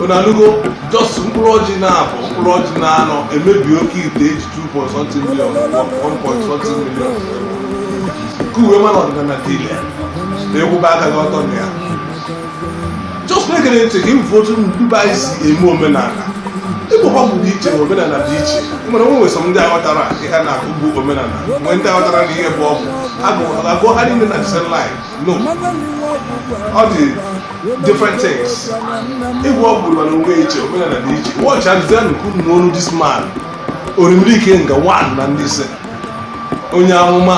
ọ nalugo just mkpụrụ ọjị naabọ mkpụrụ ọjị naanọ emebi oke ite eji 2.something million 1.something million ka ị wee ma na ọdịnala dị ile na ịkwụba aka gị ọtọ na ya na-egere ntị ka ị fụ otu ndị be anyị si eme omenala ịgwọ ọgwụ dị iche omenala dị iche iwe na-ewe sọ ndị aghọtarọ ihe a na-akọ bụ omenala mgbe ndị aghọtarọ na ihe bụ ọgwụ agụọ ha niile na same line no ọ dị different things ịgwọ ọgwụ nọ onwe iche omenala dị iche wọchị adịza nnukwu n'ọnụ this man orimiri ikenga one na ndị ise onye amụma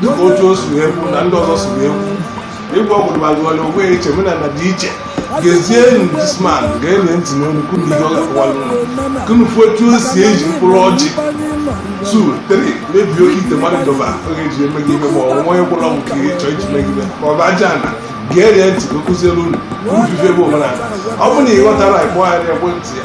dịka otu o si ekwu na ndị ọzọ si ekwu ịgwọ ọgwụ gbagwara onwe ya iche omenala dị iche gezie this man gee ntị n'ọnụ kunu ihe ọ ga-akọwara unu kunu fụ otu o si eji mkpụrụ ọjị 2 3 mebie oke ite mmadụ dọba ọ ga-eji eme gị ife ma ọ bụ onye gwọrọ ọgwụ ka ị chọọ iji mee gị ife ma ọ bụ aja ana gee ntị ka o kụziere unu ife bụ omenala ọ bụ na ị ghọtarọ ị kpọọ ya n'ekwentị ya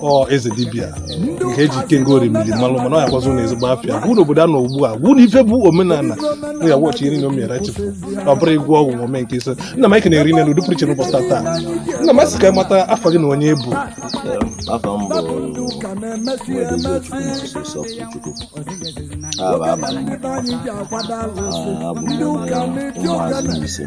ọ eze dibịa nke eji ikenga orimiri malụ mana ọ yakwazi ụlọ ezigbo afịa bụ n'obodo a nọ ugbu a bụ na ife bụ omenala m ya wọchị nri na omiara chifu ọ bụrọ ịgwọ ọgwụ ma ome nke ise nna m anyị na-ekene n'ụdị pụrụ iche n'ụbọchị tata nna m asị ka anyị mata afa gị na onye ị bụ afa m bụ Nwaedozie Chukwunso Chukwu aha bụ abalị abụ m onye ụmụazị Mbaise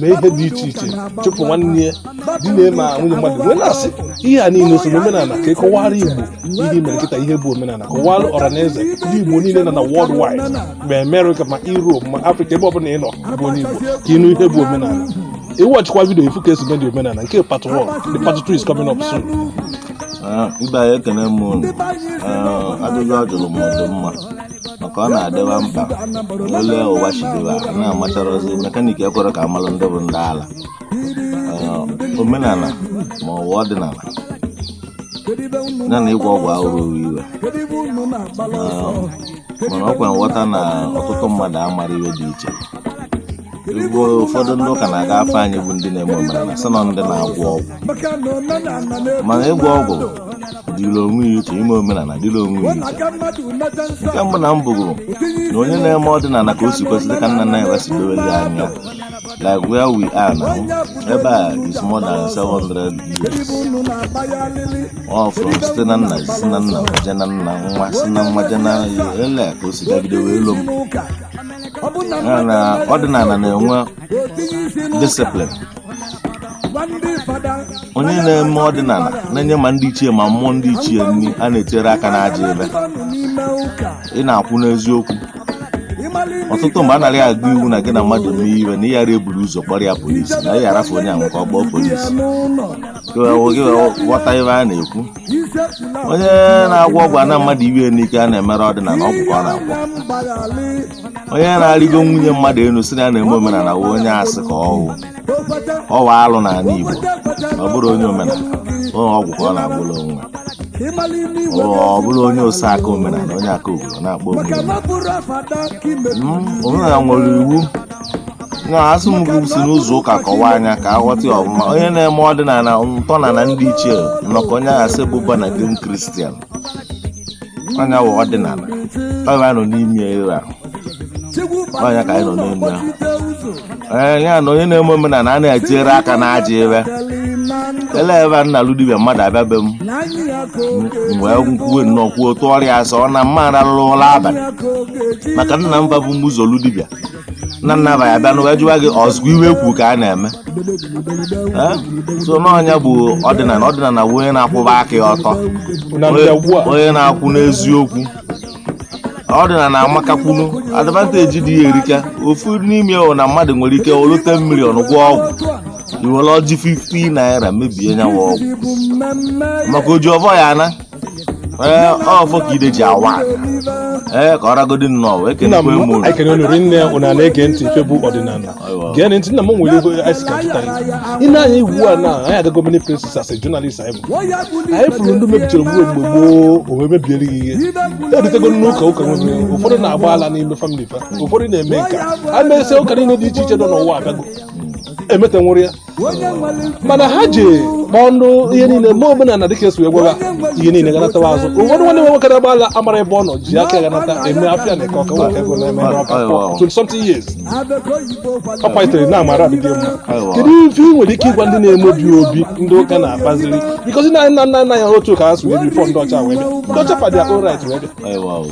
mee ihe dị iche iche chụpụ nwanne ya di na-eme a nwunye mmadụ wee na-asị ihe a niile so n'omenala ka ị kọwara igbo ihe mere kịta ihe bụ omenala kọwara ọra na eze ndị igbo niile nọ na worldwide ma amerịka ma europe ma afrịka ebe ọbụla ị nọ bụ onye igbo ka ị nụ ihe bụ omenala ị wọchịkwa vidio ị fụ ka esi mee dị omenala nke part 1 the part 2 is coming up soon Ah, ibe anyị ekene m unu Ah, ajụjụ a jụrụ m dị mma maka ọ na-adịba mkpa ole ụwa chidebe a na-amacharọzi mekaniki ekwerọ ka amalụ ndị bụ ndị ala Ee, omenala ma ọ bụ ọdịnala ya na ịgwọ ọgwụ abụrọ ofu ife Ee, mana ọkwa nghọta na ọtụtụ mmadụ amarọ ife dị iche ugbo ụfọdụ ndị ụka na-aga akpọ anyị bụ ndị na-eme omenala sị na ndị na-agwọ ọgwụ mana ịgwọ ọgwụ dịrị onwe ya iche ime omenala dịrị onwe ya iche nke mbụ na mbụ bụ na onye na-eme ọdịnala ka o si kwesịrị ka nna nna ya wee si dowe ya anya like where we are now ebe a is more than 700 years ọ from site na nna si na nna je na nna nwa si na nwa je na lee ka o si gagide wee luo m ya na ọdịnala na-enwe disiplin onye na-eme ọdịnala na-enye ma ndị ichie ma mmụọ ndị ichie nri a na-etere aka n'ajọ ive ị na-akwụ n'eziokwu ọtụtụ mgbe a nara ya agụ iwu na gị na mmadụ mee ive na ị ghara eburu ụzọ kpọrọ ya polisi na ị arafụ onye ahụ ka ọ kpọọ polisi gị wee ghọta ive a na-ekwu onye na-agwọ ọgwụ ana mmadụ ive n'ike a na-emere ọdịnala ọgwụ ka ọ na-agwọ onye na-arịgo nwunye mmadụ elu si na ya na-eme omenala wụ onye asị ka ọ wụ ọ wụ alụ n'ala Igbo ọ bụrọ onye omenala ọ ọgwụ ka ọ na-agwọrọ onwe ọ bụrụ onye oseaka omenala onye aka obodo na-akpọ obodo omenala nwere iwu na asị mụ si n'ụzọ ụka kọwaa nya ka a ghọta ya ọfụma onye na-eme ọdịnala ntọnala ndị ichie n'ọkwa onye ahụ a sị bụ born again kristian nya wụ ọdịnala ọ ya nọ n'ime ya ire ahụ ọ ya ka anyị nọ n'ime ya ee ya na onye na-eme omenala a na-etinyere aka n'ajọ ive ele ebe a na-alụ dibịa mmadụ abịa be m m wee kwuwe nnọọ kwuo tụọrọ ya asị na m ama aralụ ụla abalị maka nna m va bu m ụzọ lụ dibịa nna nna va ya-abịa n'ụwa jụwa gị ọzụkwa ive e kwu ka a na-eme Eh? so n'ọ nya bụ ọdịnala ọdịnala bụ onye na-akwụba aka ya ọtọ na ndagbu a onye na-akwụ n'eziokwu ọdịnala amakakwanụ advanteji dị ya erika ofu n'ime ya bụ na mmadụ nwere ike wolu 10 million gwọọ ọgwụ i were ọjị 50 naira mebie nya wụ ọgwụ maka oji ọvọ ya-ana ee ọfọ ka ide ji awa ee ka ọ ragodi nnọọ wee nna m kenekwe mụ anyị kene unu rinne unu na-ege ntị ife bụ ọdịnala Aiwa. gee ntị nna m nwere ego anyị si ka jụta ya ị na-anya iwu a na anyị agago many places as a journalist anyị bụ anyị fụrụ ndị mebichara mgbe mgbe gboo owe mebiere gị ihe ebutego n'ụka ụka nwere ụfọdụ na-agba ala n'ime famili fa ụfọdụ na-eme nka a mesịa ụka niile dị iche iche nọ n'ụwa abịago emeta nwụrụ ya mana ha ji ọnụ ihe niile ma omenala na dịka e si wee gwara ihe niile ganatawa azụ ụfọdụ nwanne nwe nwoke na-agba ala amara ebe ọ nọ ji aka ganata eme afịa na Eke Ọka nwere ego na-eme Eke Ọka for 20 something years ọ kwalitere na amara adịghị mma kedu ife ị nwere ike ịgwa ndị na-emebi obi ndị ụka na-akpaziri bikozi na nna nna nna ya otu ka ha si wee bifọ ndị ọcha wee bịa ndị ọcha fadị akpụ rit wee bịa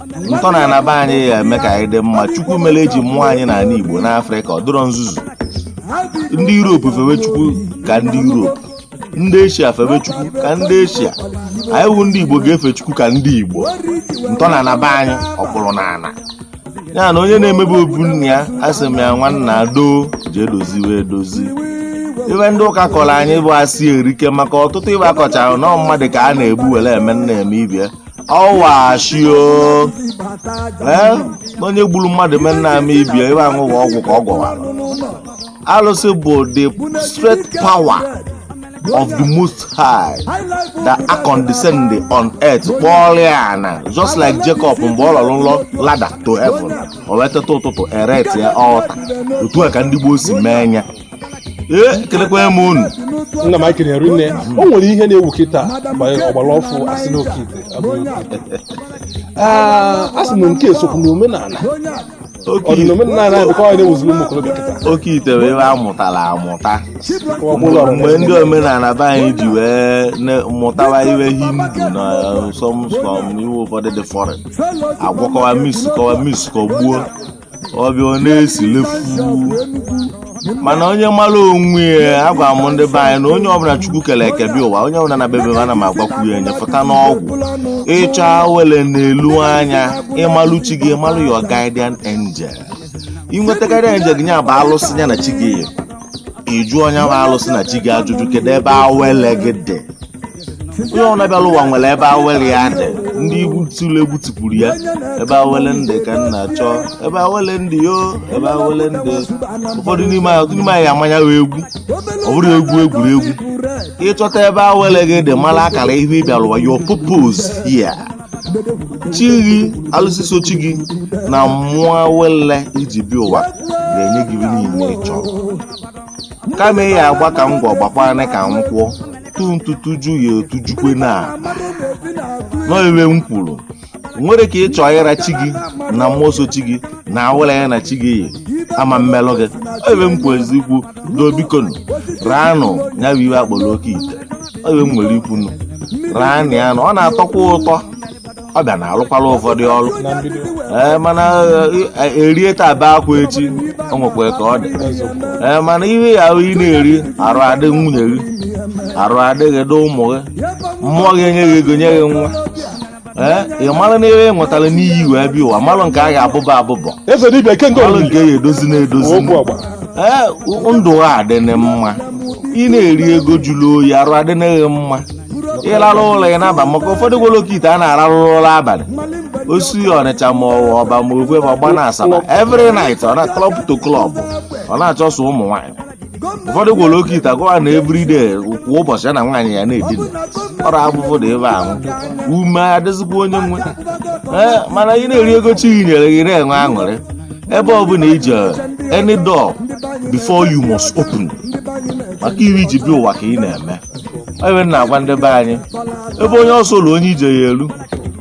ntọnana be anyị ya-eme ka anyị dị mma chukwu mere eji mụọ anyị n'ala igbo n'afrịka ọ dịrọ nzuzu ndị europe fewe chukwu ka ndị europe ndị eshia fewe chukwu ka ndị eshia anyị wụ ndị igbo ga-efe chukwu ka ndị igbo ntọnana be anyị ọkpụrụ na ana ya na onye na-emebi obu nna ya asị m ya nwanna doo jee doziwe edozi ive ndị ụka kọrọ anyị bụ asị erika maka ọtụtụ ive a kọchara na mmadụ ka a na-egbu were eme nna eme ibie ọwashio ee onye gburu mmadụ mee nna mee ibie ebe ahụ bụ ọgwụ ka ọ gwọwara alụsị bụ the straight power of the most high that are condescending on earth kpọọrọ ya na just like jacob mgbe ọ lọrọ nlọ ladder to heaven o wee teta ụtụtụ erect ya altar otu a ka ndị gboo si mee ya ekelekwa m unu nna m akiri nri nne o nwere ihe na-ewu kịta banyere ọgbara ọfụụ a sị n'oke ite Ah, a sị na nke esokwu na omenala oke ọ dị na omenala anyị bụkwa anyị na-ewuziri ụmụ okorobịa kịta oke ite bụ iwe a mụtara amụta Ọgbụla ọgbụla. mgbe ndị omenala be anyị ji wee ne- mụtawa iwe hindu na some some iwe ụfọdụ dị foreign agwakọwa mixkọwa mixkọgbuo ọ bịa ọ na-esilefu mana onye mara onwe ya agwa m ndị be anyị na onye ọbụla chukwu kere eke bịa ụwa onye ọbụla na bebe ana m agwakwu ya enye pụta n'ọgwụ ịchọ awele n'elu anya ịmalụ chi gị ịmalụ your guardian angel inweta guardian angel gị nya bụ alụsị ya na chi gị yi ị jụọ nya bụ alụsị na chi gị ajụjụ kedu ebe awele gị dị onye ọbụla bịara ụwa nwere ebe awele ya dị ndị igbo tiri egwu tikwuru ya ebe awele m dị ka m na-achọ ebe awele m dị yo ebe awele m dị ụfọdụ n'ime anyị- ọtụtụ n'ime anyị amanya wee egwu ọ bụrụ egwu egwuregwu ịchọta ebe awele gị dị mara akara ihe ị bịara ụwa your purpose here chi gị alụsị so chi gị na mmụọ awele i ji bịa ụwa ga-enye gị ihe niile ị chọrọ kama ị ya agba ka m gwọ gbakwana ka m kwụọ tụ ntutu ju ya otujukwe na n'ọ iwe m kwuru nwere ka ị chọọ ịra chi gị na mmụọ so chi gị na awele ya na chi gị yi ama mmelụ gị Ọ iwe m kwesi ikwu doo bikonụ raanụ ya bụ iwe a kpọrọ oke ite Ọ iwe m nwere ikwu nụ raanụ ya nụ ọ na-atọkwa ụtọ ọ bịa na-alụkwala ụfọdụ ọrụ ee mana e rie taa bee akwa echi o nwekwa ka ọ dị ee mana ihe ya ahụ ị na-eri arụ adị nwunye gị arụ adị gị dị ụmụ gị mmụọ gị enye gị ego nye gị nwa ee ị mara na ebe ị nwetara n'iyi wee bịa ụwa mara nke a ga-abụba abụbọ eze dibịa ike nke mara nke ya edozi na-edozi okwu ọgba ee ndụ a adị gị mma ị na-eri ego jụrụ oyi arụ adị gị mma ị rarụ ụla ị naba maka ụfọdụ gwọrọ oke ite ana ararụ ụla abalị o si ọnịcha ma ọba ma ofe ma ọgba na asaba every night ọ na club to club ọ na-achụso ụmụ nwaanyị ụfọdụ gwọrọ oke ite a gwa ya na everyday kwa ụbọchị ya na nwaanyị ya na-edina ọrụ afụfụ na ebe ahụ ume adịzikwa onye nwe ee mana ị na-eri ego chi gị nyere gị na-enwe aṅụrị ebe ọ bụla i je any door before you must open maka iwe i ji bịa ụwa ka ị na-eme ebe na-agwa ndị be anyị ebe onye ọsọ lulu onye ije ya-elu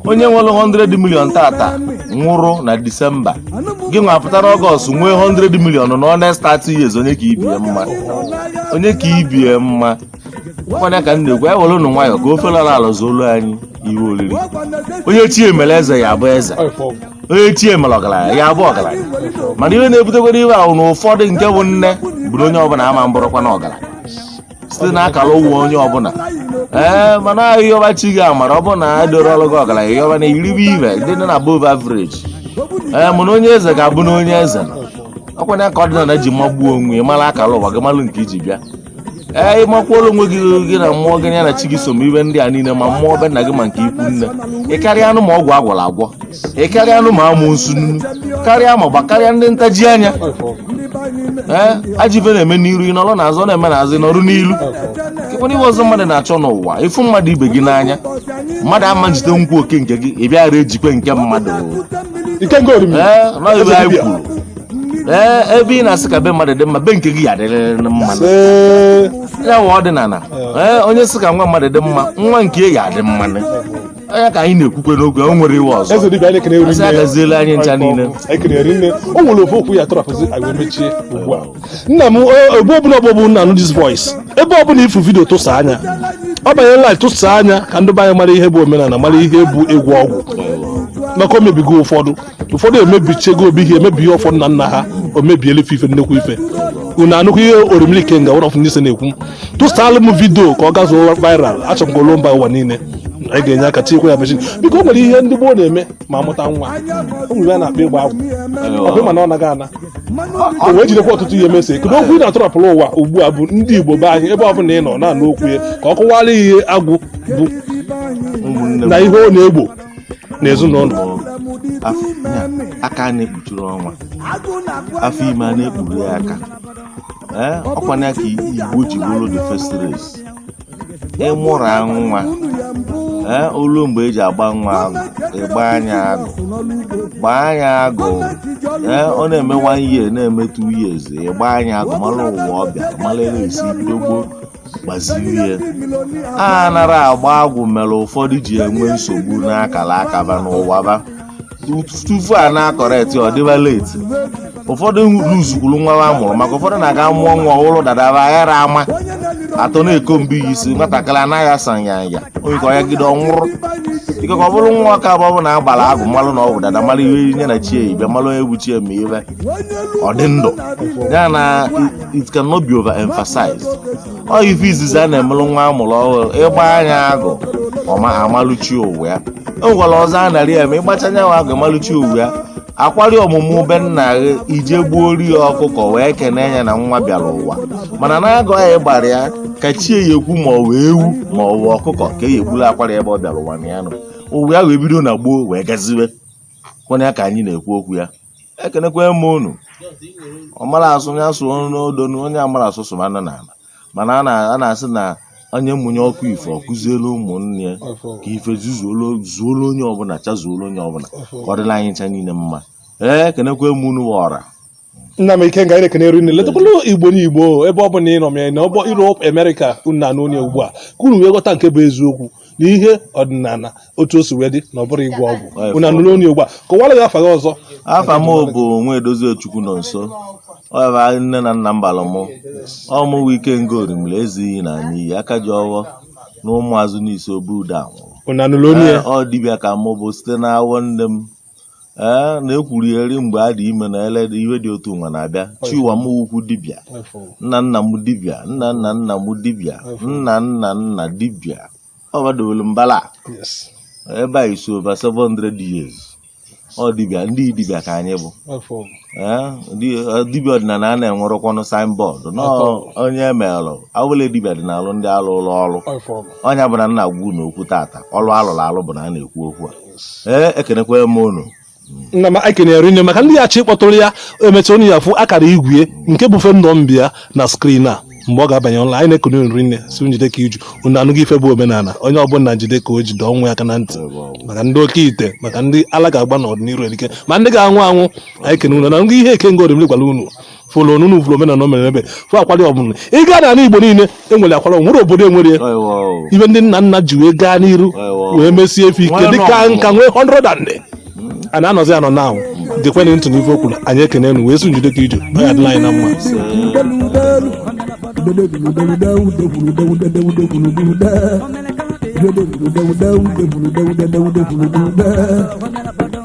onye nwere 100 million tata nwụrụ na disemba gị nwa pụtara ọgọst nwee 100 million nọọ next 30 years onye ka ibie mma onye ka ibie mma ọkwa nya ka m na-ekwu anyị werenụ nwayọ ka ofe lara ala zuolu anyị ive oriri onye chie mere eze ya abụ eze onye chie mere ọgaranya ya abụ ọgaranya mana ihe na-ebutekwara ive ahụ na ụfọdụ nke bụ nne bụ na onye ọbụla ama abụrụkwanụ ọgaranya site na akara ụwa onye ọbụla ee mana ị yọba chi gị amara ọ bụ na a doro ọrụ gị ọgaranya ị yọba na i ribe ive dị na above average ee mana onye eze ga-abụ na onye eze ọkwa nya ka ọdịnala ji magbuo onwe ya mara akara ụwa gị malụ nke i ji bịa ee ị makwuola onwe gị gị na mmụọ gị ya na chi gị so ma ive ndị a niile ma mmụọ be nna gị ma nke ikwu nne ị karịanụ ma ọgwụ a gwọrọ agwọ ị karịanụ ma amusu nnu karịa ma gbakarịa ndị ntaji anya ee ajọ ive na-eme n'iru ị nọrọ n'azụ ọ na-eme n'azụ ị nọrụ n'ilu kekwanụ ihe ọzọ mmadụ na-achọ n'ụwa ịfụ mmadụ ibe gị n'anya mmadụ ama njide nkwu oke nke gị ị bịara ejikwe nke mmadụ nke nke orimi ee nọ ive anyị kwuru ee ebe ị na-asị ka be mmadụ dị mma be nke gị ya-adịrịrị mma ee ya wụ ọdịnala ee onye sị ka nwa mmadụ dị mma nwa nke ya adị mma ọ nya ka anyị na-ekwukwe n'oge o nwere ive ọzọ eze dibịa anyị ekene eri a sị ya gaziela anyị ncha niile. ekene rinne o nwere ofu okwu ị ya-atọrọpụzi anyị wee mechie ugbu a nna m o- ebe ọbụla ọ bụ ị na-anụ this voice ebe ọbụla ị fụ vidio tụsaa nya ọ banyere live tụsaa nya ka ndị be anyị mara ihe bụ omenala mara ihe bụ egwu ọgwụ maka o mebigo ụfọdụ ụfọdụ emebichego obi ye emebie ọfọ nna nna ha o mebiela ife ife nnekwu ife unu anụkwa ihe oromili ikenga one of nise na-ekwu tụsaalụ m vidio ka ọ gazuo viral achọrọ m ka o luo mba ụwa niile anyị ga-enye aka tinyekwa ya mechin biko o nwere ihe ndị gboo na-eme ma amụta nwa o nwere ihe a na-akpọ ịgba agwụ ọ bụ mana ọ naghị ana o wee jidekwa ọtụtụ ihe mesi kedu okwu ị na-atọrọpụrụ ụwa ugbu a bụ ndị igbo be anyị ebe ọbụla ị nọ na-anụ okwu ya ka ọ kọwara ihe agwụ bụ ụmụnne m na ihe ọ na-egbo n'ezinụlọ aka a na-ekpuchiri ọnwa afọ ime a na-ekpuru ya aka ee ọkwa nya ka igbo ji bụrụ the first race ị mụrụ nwa ee o lue mgbe e ji agba nwa agwụ ị gbaa nya agwụ gbaa nya agwụ ee ọ na-eme one year na-eme two years ị gbaa nya agwụ mara ụwa ọ bịara mara ere e si bido gboo gbaziri ya anara agba agwụ mere ụfọdụ ji enwe nsogbu n'akara aka va n'ụwa va tupu a na-acorrect ọ dịba late ụfọdụ luzukwuru nwa ha mụrụ maka ụfọdụ na-aga mụọ nwa o buru dada va aghara ịma atọ na-acomb ya isi nwatakịrị anaghị asa nyanya ọya ka ọ yagide ọ nwụrụ ikekwe ọ bụrụ na ọ ka bụ na agbara agụ malụ na o bu dada mara ihe nya na chie ibe mara onye bụ chie ma ive ọ dị ndụ ya na it cannot be overemphasized ọ ife izizi a na-emelụ nwa amụrụ ọhụrụ ịgba nya agụ a malụ chi ụwa ya e nwekwara ọzọ a narị eme ị gbachaa nya agụ ị malụ chi ụwa ya akwari ọmụmụ be nna gị i je gbuoro ya ọkụkọ wee kene ya na nwa bịara ụwa mana n'agụ a ị gbara ya ka chi ya ekwu ma ọ wụ ewu ma ọ wụ ọkụkọ ka e egbulu akwari ebe ọ bịara ụwa na ya nọ ụwa ya wee bido na gboo wee gaziwe kwanye ka anyị na-ekwu okwu ya ekenekwa m unu ọ mara asụ ya sụọ n'odo na onye amara asụ sụba na n'ala mana a na-asị na onye mụnye ọkụ ife ọ kụzielu ụmụnne ya ka ife zuolu onye ọbụla chazuolu onye ọbụla ka ọ dịla anyị ncha niile mma ee ekenekwa m unu ọra nna m Ikenga na-ekene rinne letakwala Igbo n'Igbo ebe ọ bụla ị nọ mee na ọgbọ Europe America unu na-anụ onu ya ugbu a ka unu wee ghọta nke bụ eziokwu na ihe ọdịnala otu o si wee dị na ọ bụrọ ịgwọ ọgwụ unu anụrụ onu ya ugbu a kọwara anyị afa gị ọzọ afa m bụ Nwaedozie Chukwunọnso ọ ya nne na nna m bara mụ ọ mụwa Ikenga Orimiri ezighị na anyị iyi aka ji ọwọ na Ụmụazụ Nise obu uda nwụrụ unu anụrụ onu ya Ee, ọ dibịa ka mụ bụ site n'awọ nne m ee na e kwuri eri mgbe a dị ime na ele iwe dị otu nwa na-abịa chi ụwa m ukwu dibịa nna nna m dibịa nna nna nna m dibịa nna nna nna dibịa ọ gbadowere mbala ebe a is over 700 years ọ dibịa ndị dibịa ka anyị bụ dibịa ọdịnala anyị enwerọkwanụ signboard onye emelụ awụla dibịa dị n'alụ ndị a lụlụ ọlụ onye bụna na-ekwu okwu tata ọlụ a lụrụ alụ bụ nya na-ekwu okwu a ee ekenekwa m unu nna m anyị ekene rinne maka ndị ya-achọ ịkpọtụrụ ya emecha unu ya-afụ akara igwe nke bụ phone number ya na screen a mgbe ọ ga-abanye online anyị na-ekene unu rinne sị unu jide ka i ji unu anụgo ife bụ omenala onye ọbụla jide ka o ji dọ onwe ya aka na ntị maka ndị oke ite maka ndị ala ga-agba n'ọdịnihu erike ma ndị ga-anwụ anwụ anyị kene unu anụgo ihe Ikenga Orimiri gwara unu fụlụ na unu vulu omenana omenana bụ ife akwalị ọbụna ị ga n'anị Igbo niile e nwere akwalị o nwerọ obodo enwerọ ya ife ndị nna nna ji wee gaa n'iru wee mesie ife ike dịka nka nwee 100 and a na-anọzi anọ na dịkwanụ ntị n'ife o kwuru anyị ekene unu wee sị jide ka i ji ọ ya-adịlị anyị na mma Thank you.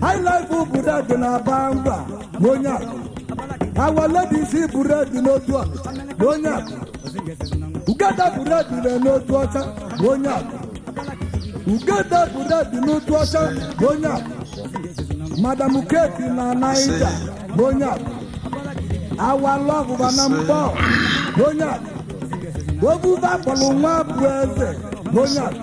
highlife bread na-aba mba na onye akụ Our Ladies bread n'otu ọnịcha na onye akụ ugede bread na n'Otuọcha na onye akụ ugede bread n'Otuọcha na onye akụ madam keki na naija na onye akụ awa lọgụba na Nkpọ na onye akụ obuba kpọrọ nwa bụ eze na onye akụ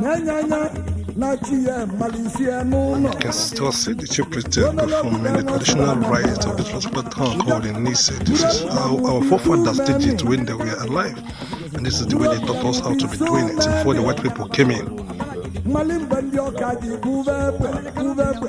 na-enye anya na chi ya malisie n'ụlọ You can still see the chief priest there performing the traditional rites of the transplant town called in Nise. This is how our forefathers did it when they were alive. And this is the way they taught us how to be doing it before the white people came in. mmalị mgbe ndị ọka ji bube egbe bube egbe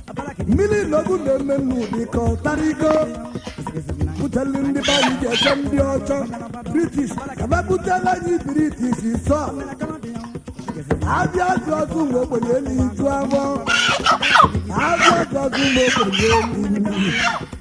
mmiri ilogu na-eme n'ụdị ka ọtarigo buteli ndị be anyị ji eche ndị ọcha british kaba butela anyị british sọ abịa azụ azụ mgbe ogbenye elu iju agbọ abịa azụ azụ mgbe ogbenye elu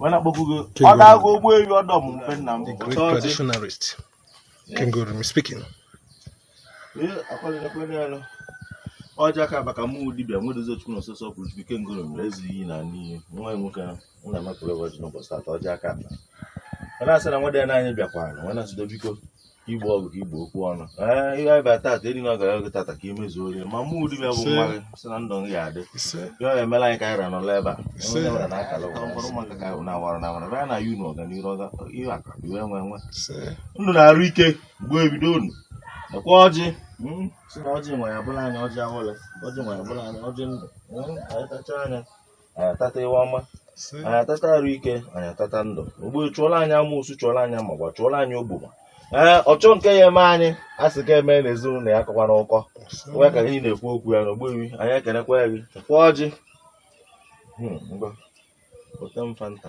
wee na-akpọku gị King ọ na-agụ Orumi. ụgbọelu ọdọ m mfe nna m The great Ọtọ ọjị. traditionalist. King Orumi speaking. Ee, akwalere kwere ya lụ. ọja ka baka mụ dibịa nwedozi chukwu na osisi ọkwụrụ chukwu ike ngoro mere ezi iyi na n'iyi nwa ya nwoke ahụ m na-amapụrụ ụbọchị n'ụbọchị tata ọja ka mba ọ na-asị na nwa dị ya n'anya bịakwara wee na-asịdo biko igbo ọgụ ka igbo okwu ọnụ ee ihe anyị bịara tata eri na ọ gara oge tata ka i mezuori ma mụ dibịa bụ nwa gị sị na ndụ gị ga-adị ya ọ emela anyị ka anyị ra n'ụlọ ebe a onye nwere na akara ụwa mkpọrọ maka ka na awara na awara bịa na yu na ọganihu ọga ihe aka iwe nwe nwe ndụ na arụ ike mgbe ebido unu nakwa ọjị hmm, sị na ọjị nwa ya bụlụ anyị ọjị awele ọjị nwa ya bụlụ anyị ọjị ndụ hmm, anyị tachaa ya anyị atata ife ọma anyị atata arụ ike anyị atata ndụ ogbuefi chụọlụ anyị amụsụ chụọlụ anyị amagba chụọlụ anyị ogboma ee ọchọ nke ya eme anyị a sị ka eme na ezinụlọ ya akọkwana ụkọ nwa ka anyị na-ekwu okwu a na ogbuefi anyị ekenekwaa gị kwa ọjị Hmm, ngwa, weta m fanta.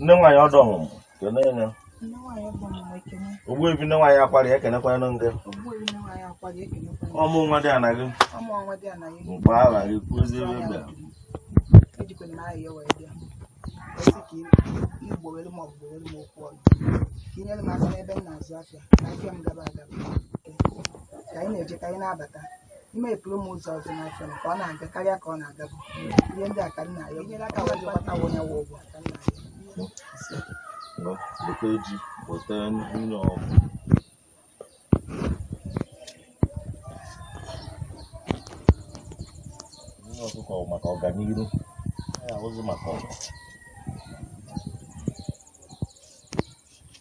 nne nwaanyị ọdụ ọmụmụ kene ya ogbuefi nne nwaanyị akwara ya ekenekwanụ gị ọmụ nwa dị ana gị mgbe aha gị kwuzie ebe bịara ka anyị na-eje ka anyị na-abata i mepere m ụzọ ọzọ n'afịa m ka ọ na-aga karịa ka ọ na-agabu ihe ndị a ka m na-ayọ nyere aka wee jikọta onye wụ ụgwọ ka m na-ayọ, weta ji weta nwunye ọgwụ nwunye ọkụkọ bụ maka ọganihu ya abụzi maka ọgụ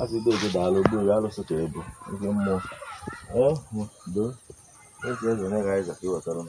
Asị dị oge daalụ ogbu ya alụsị ka ebu oge mmụọ ee doo esi eze na ga-aịza ka iwetara m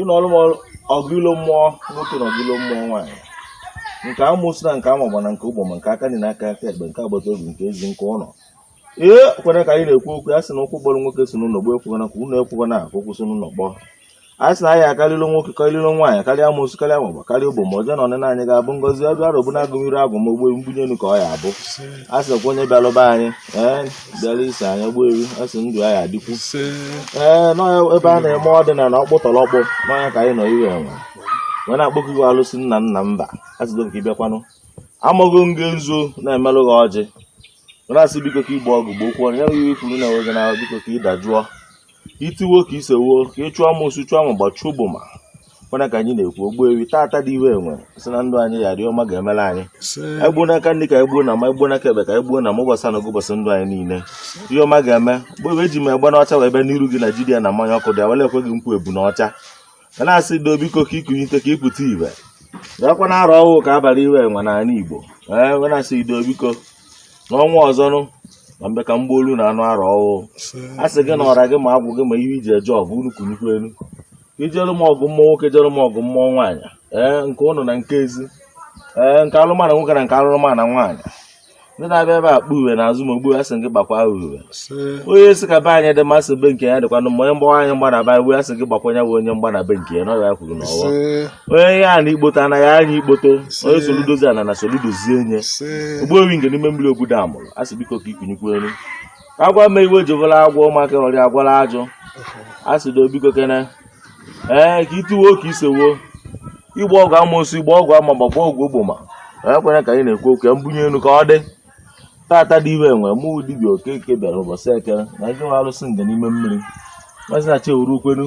ị nụọrọ m ọgụ ọgụ ilo mmụọ nwoke na ọgụ ilo mmụọ nwaanyị nke amụsụ na nke amagba na nke ogboma nke aka nri na nke aka ekpe nke agbata obi nke ezi nke ụlọ ee kwere ka anyị na-ekwu okwu a sị na okwu gburu nwoke si n'ụlọ gbuo ekwekwana ka ụlọ ekwekwana ka okwu si n'ụlọ gbuo a sị na anyị akarịla nwoke karịla nwaanyị karịa amụsụ karịa amagba karịa ogboma ọjọọ na ọnịna anyị ga-abụ ngọzi ọdụ arọbụ na-agụnyere agụmogbo mbunye elu ka ọ ya-abụ a sị nakwa onye bịalụ be anyị ee bịara iso anya gbuo ewu a sị ndụ anyị adịkwu ee nọ ebe a na-eme ọdịnala ọkpụtọrọkpụ na ọ ya ka anyị nọ iwe enwe wee na-akpọkọ iwe alụsị nna nna mba asịdo ka ị bịakwanụ amaghị nge nzu na-emelụ gị ọjị wee na-asị biko ka i gboo ọgụ gboo okwu ya gị ikwuru na enweghị na biko ka ị dajụọ i tiwo ka i sewo ka ị chụọ amosu chụọ ma gbachụọ ogboma mana ka anyị na-ekwu Ogbuewi tata dị iwe enwe sị na ndụ anyị ghara ọma ga-emere anyị egbuo n'aka nri ka egbuo na mma egbuo n'aka ekpe ka egbuo na mma ụbọchị anọ ụbọchị ndụ anyị niile ihe ọma ga-eme bụ ebe eji m egbene ọcha wee bịa n'iru gị na jidia na mmanya ọkụ dị awele ekwe gị nkwa ebunu ọcha wee na-asị do biko ka i kunite ka ị pụta ibe nakwa na arọ ọhụụ ka a bara iwe enwe n'ala Igbo ee eh, na-asị do biko n'ọnwa ọzọnụ na mbe ka mgbaolu na anụ arọ ọhụụ a sị gị na ọra gị ma agwụ gị ma ihe i ji eje ọgụ unu kunikwu elu i jere m ọgụ mmụọ nwoke jere m ọgụ mmụọ nwaanyị ee eh, nke ụnọ na nke ezi ee eh, nke alụmana nwoke na nke alụmana nwaanyị ndị na-abịa ebe akpa uwe n'azụ ma ogbu ya sị gị gbakwa uwe onye sị ka be anyị dị mma sị be nke ya dịkwanụ mma onye mgbawa anyị mgba na be iwu a sị gị gbakwa onye bụ onye mgba na be nke ya na ọ ya kwuru na ọwa onye ihe a na ikpoto anaghị anya ikpoto onye soludozie ana ana soludozie onye Ogbuewi Ngene ime mmiri obodo amụrụ a sị biko ka i kunikwu elu agwa ma iwe ji bụla agwọ maka ọrịa agwala ajụ a sị do biko kene ee ka i tiwo ka i sewo i gboo ọgụ amosu i gboo ọgụ ama ma gboo ọgụ ogboma ọkwana ka anyị na-ekwu okwu ya mbunye elu ka ọ dị tata dị iwe enwe mụ dibịa Okeke bịara ụbọchị eke na ndị nwe arụsị Ngene ime mmiri mazi na chi ewuru ukwenu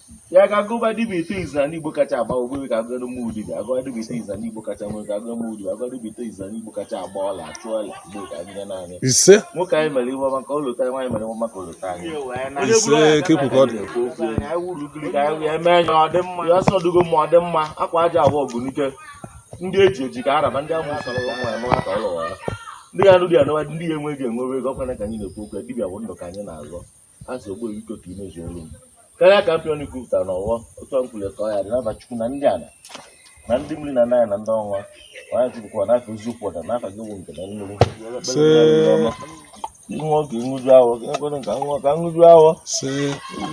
ya ka a gụba dibịa ite izu na igbo kacha agba Ogbuewi ka a gụrụ mụ dibịa a gụba dibịa ite izu na igbo kacha nwere ka a gụrụ mụ dibịa a gụba dibịa ite izu na igbo kacha agba ọla achụ ọla igbo ka a gụnye m na ya ise nwoke anyị mere iwe ọma ka ọ lụta nwaanyị mere iwe ọma ka ọ lụta anyị ise kepụ ka ọ dị na-ekwu okwu ya. anyị wuru ugiri ka anyị wee mee ya ọ dị mma ya ọsọ dugo ma ọ dị mma akwa aja abụọ ọgụnike ndị eji eji ka araba ndị amụ sara ụmụ ya mara ka ọ lụwa ya ndị ya nụ dị ya nụwa ndị ya enweghị enwewe ego ọkwana ka anyị na-ekwu okwu ya dibịa bụ ndụ ka anyị na-azọ a sị ogbe biko ka i mezu olu m karịa ka m ji ọnụ kwupụtara na ọfọ otu a m kwulu ka ọ ya-adị n'afa chukwu na ndị ala na ndị mmiri na naya na ndị ọnwa onye chukwukwa n'afọ eziokwu ọda n'afa gị wụ Ngene mmiri ihe oge nṅụju ahụ ka ekwere ka m ṅụọ ka m ṅụju afọ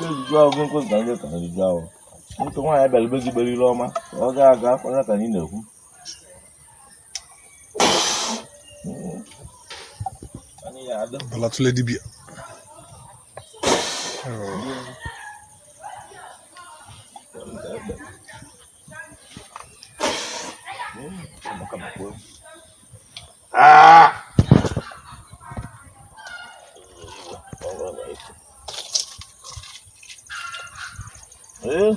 nṅụju ahụ gị ekwere ka nje ka nṅụju ahụ ntụ nwaanyị bịara be gị gbere ire ọma ka ọ ga-aga kwanye ka anyị na-ekwu bala tụle dibịa Ah! Eh?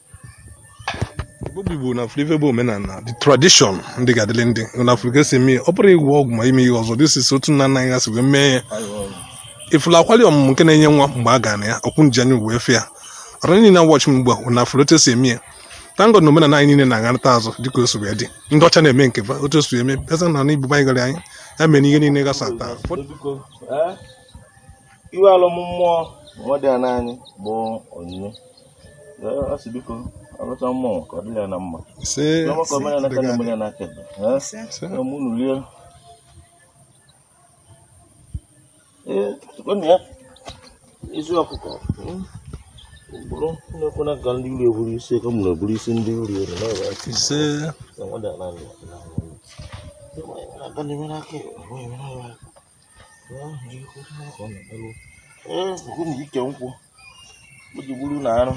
obi bụ na flive bụ omenala the tradition ndị ga-adịrị ndị na Afrịka si eme ọ bụrụ ịgwọ ọgwụ ma ime ihe ọzọ this is otu nna nna anyị gasị wee mee ya ị fụla akwali ọmụmụ nke na-enye nwa mgbe a ga na ya ọkwụ nji anya wee fụ ya ọrụ niile na-awọchị m ugbu a na Afrịka si eme ya thank God na omenala anyị niile na-agharịta azụ dịka o si wee dị ndị ọcha na-eme nke fa otu o si eme pesa na na ibuba anyị gara anyị ya mere ihe niile gasa taa iwe alụ mmụọ nwadiana anyị bụ Onyinye isi ọkụkọ bụrụ na-ekwena ka ndị iro eburu isi ka mụrụ eburu isi ndị iro ere ise ike nkwụ iji gburu na arụ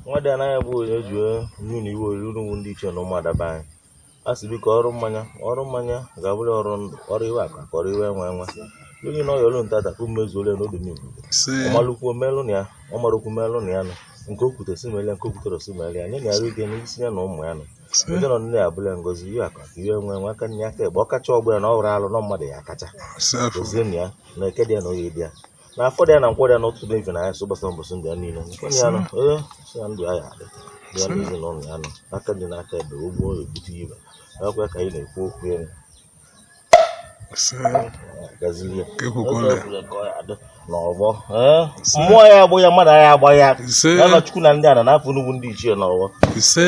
nwadiana gị bụ onye ji onye na iwe oriri ndị ichie na ụmụada be anyị a sị biko ọrụ mmanya ọrụ mmanya ga-abụrụ ọrụ ndụ ọrụ iwe akụakụ ọrụ iwe enwe enwe onye na ọyọlụ nta dapụ mmezuole n'obi m igbo ọ malụ kwuo melụ na ya ọ marọ kwuo melụ na ya nụ nke o kwute si mele nke o kwuterọ si mele ya nye ya arụ ike n'isi ya na ụmụ ya nụ ndị nọ nne ya abụla ngozi iwe akụakụ iwe enwe enwe aka nye aka egbe ọ kacha ọgbọ ya na ọ hụrụ alụ nọ mmadụ ya akacha gọzie na ya na Eke dị ya na Oye dị ya na Afọ dị ya na Nkwọ dị ya n'otu na-efe na ya so gbasa mbọsị ndị ya niile nke ya nọ ee sị ya ndụ ya ya adị ya na ezinụlọ ya nọ aka dị n'aka ebe ọgbọ ya ebute ibe akwa ka anyị na-ekwu okwu ya gazili ya Ekwekwala. Oge ọbụla ka ọ ya adị n'ọgbọ ee mmụọ ya agbụ ya mmadụ ya agba ya Ise. ya na Chukwu na ndị a na n'afọ nnukwu ndị ichie n'ọgbọ ise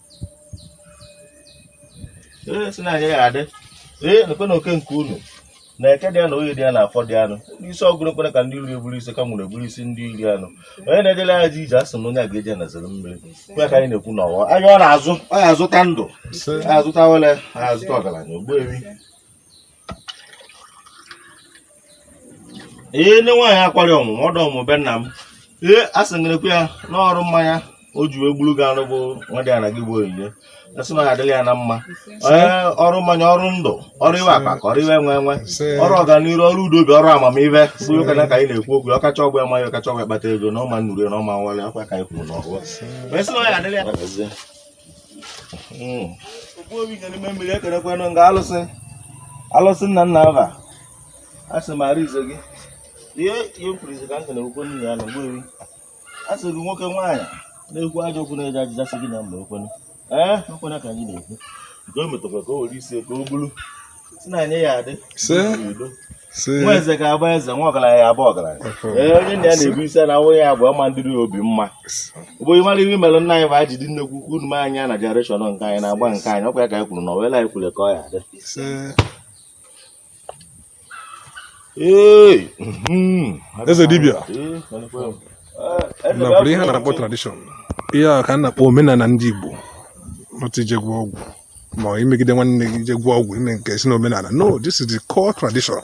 ee si na anyị ga-adị ee nekwe na oke nke unu na Eke dị ya na Oye dị ya na Afọ dị ya nụ isi ọgụ nekwere ka ndị iro eburu isi ka mụrụ eburu isi ndị iro anụ onye na-ejele ya ji ije asị na onye a ga-eje na zere mmiri kwe ka anyị na-ekwu n'ọwọ awịa ọ na-azụ ọ ya azụta ndụ ya azụta awele ya azụta ọgaranya ogbuewi ee nne nwaanyị akwari ọmụ ọdọ ọmụ be nna m ee a sị gị rikwa ya n'ọrụ mmanya o ji wee gburu gị anụ bụ nwadiana gị bụ Onyinye a sị na adịlị ya na mma ee ọrụ mmanya ọrụ ndụ ọrụ iwe akụakụ ọrụ iwe enwe enwe ọrụ ọganiru ọrụ udo obi ọrụ amamihe bụ ụka na ka anyị na-ekwu okwu ọ kacha ọgbọ ama ihe ọ kacha ọgbọ akpata ego na ọma nnuru na ọma nwale akwa ka anyị kwuru n'ọwọ wee sị na ọ ya adịlị ya alụsị nna nna aba asị m ara izo gị ihe ihe kwuru izo ka m kere okwu nna ya na ogbuewi a sị gị nwoke nwaanyị na-ekwu ajọ okwu na-eji ajụja sị gị na mba okwenu ee okwena ka anyị na-ekwu nke o metụkwa ka o were isi ka o bulu nwa eze ga-abụ eze nwa ọgaranya ya abụ ọgaranya ee onye nna ya na-ebu isi na awụ ya bụ ọma ndịrị obi mma ụbụghị mara ihe mere nna anyị bụ aji dị nnekwu ukwu unu anya na generation nke anyị na-agba nke anyị ọkwa ya ka anyị kwuru na ọwela anyị kwuru ka ọ ya adị hmm. eze dibịa na bụrụ ihe a na-akpọ tradition ihe a ka a na-akpọ omenala ndị Igbo ọtụ ije gwọ ọgwụ ma imegide nwanne gị je gwọọ ọgwụ ime nke si n'omenala no this is the core tradition